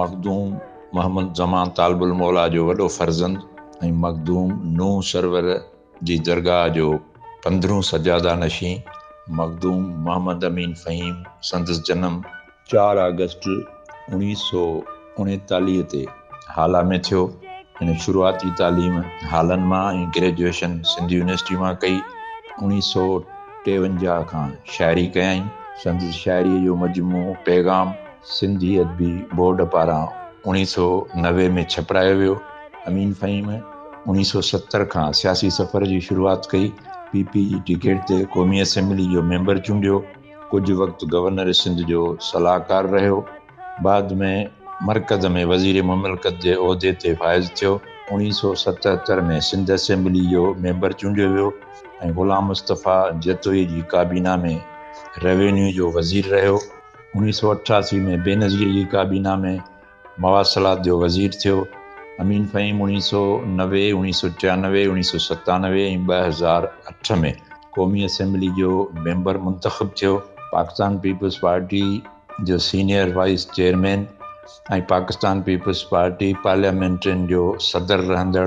مخدوم محمد زمان طالب الموليٰ جو وڏو فرزند ۽ مخدوم نوح سرور جي درگاهه جو پندرهون سجاده نشين مخدوم محمد امين فهيم سندس جنم چار آگسٽ اوڻيهه سؤ اڻيتاليهه تي هالا ۾ ٿيو. هن شروعاتي تعليم هالن مان ۽ گريجوئيشن سنڌ يونيورسٽي مان ڪئي. اوڻيهه سؤ ٽيونجاهه کان شاعري ڪيائين. سندس شاعريء جو مجموعو پيغام سنڌي ادبي بورڊ پاران اوڻيهه سؤ نوي ۾ ڇپرايو ويو. امين فهيم اوڻيهه سؤ ستر کان سياسي سفر جي شروعات ڪئي. پي پي جي ٽڪيٽ تي قومي اسيمبلي جو ميمبر چونڊيو. ڪجهه وقت گورنر سنڌ جو صلاحڪار رهيو. بعد ۾ مرڪز ۾ وزير مملڪت جي عهدي تي فائز ٿيو. اوڻيهه سؤ ستهتر ۾ سنڌ اسيمبلي جو ميمبر چونڊيو ويو ۽ غلام مصطفيٰ جتوئي جي ڪابينا ۾ روينيو جو وزير رهيو. انيس سؤ اٺاسي ۾ بينظير جي ڪابينا ۾ مواصلات جو وزير ٿيو. امين فهيم انيس سؤ نوي، انيس سؤ ٽيانوي، انيس سؤ ستانوي ۽ ٻه هزار اٺ ۾ قومي اسيمبلي جو ميمبر منتخب ٿيو. پاڪستان پيپلز پارٽي جو senior vice chairman ۽ Pakistan Peoples Party Parliamentarians جو صدر رهندڙ